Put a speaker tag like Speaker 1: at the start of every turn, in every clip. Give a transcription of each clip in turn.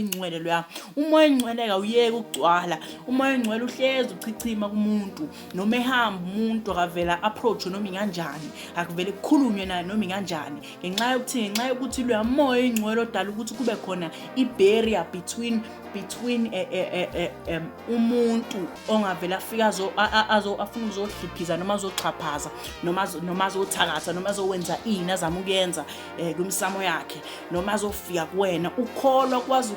Speaker 1: oyingcwele loya umoya oyingcweleka uyeke ukugcwala umoya oyingcwele uhlezi uchichima kumuntu noma ehamba umuntu akavela approach noma inganjani akuvele kukhulunywe naye noma inganjani ngenxa yokuthi ngenxa yokuthi loya moya oyingcwele odala ukuthi kube khona i-barrier between between eh, eh, eh, um, umuntu ongavele afike afuna uzohliphiza noma azoxhaphaza noma azothakatha noma azowenza ini azama ukuyenza um kwimsamo yakhe noma azofika kuwena ukholwa ukwazi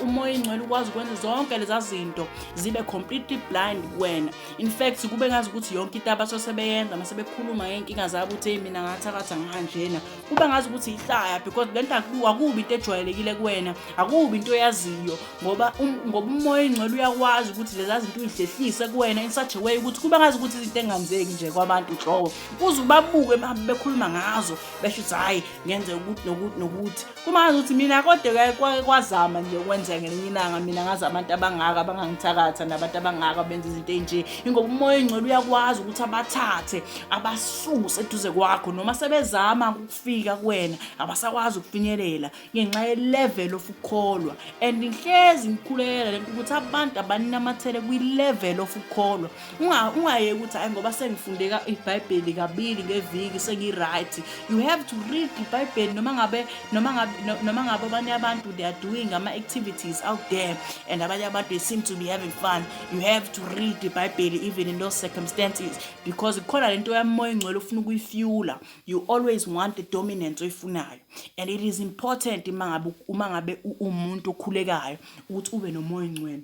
Speaker 1: umoya ingcwele ukwazi ukwenza zonke leza zinto zibe completely blind kuwena in fact kube ngazi ukuthi yonke into abaso sebeyenza mase bekhuluma ngey'nkinga zabo ukuthi eyi mina ngathakatha ngihanjena kube ngazi ukuthi yihlaya because le nto akubi into ejwayelekile kuwena akubi into oyaziyo ngoba um, ngoba umoya ingcwele uyakwazi ukuthi leza zinto uyihlehlise kuwena in such a way ukuthi kube ngazi ukuthi izinto engenzeki nje kwabantu nhlobo uze ubabuke bahambe bekhuluma ngazo besho ukuthi hhayi ngenzeka ukuthi nokuthi nokuthi kuma ngazi ukuthi mina kodwa kwake kwazama nje ukwenzeka ngelinye ilanga mina ngazi abantu abangaka abangangithakatha nabantu abangaka benza izinto ey'nje ingoba umoya oyingcwele uyakwazi ukuthi abathathe abasuse eduze kwakho noma sebezama ukufika kuwena abasakwazi ukufinyelela ngenxa ye-level of ukukholwa and ngihlezi ngikhulekela lento ukuthi abantu abaninamathele kwi-level of ukukholwa ungayeki ukuthi hhayi ngoba sengifundeka ibhayibheli kabili ngeviki sengi-right you have to read ibhayibheli noma ngabe noma ngabe noma ngabe abanye abantu they are doing ama-activities out there and abanye abantu they seem to be having fun you have to read ibhayibheli even in those circumstances because kukhona lento yamoya engcwele ofuna ukuyifyula you always want the dominance oyifunayo and it is important uma ngabe umuntu okhulekayo ukuthi ube nomoya oyingcwele.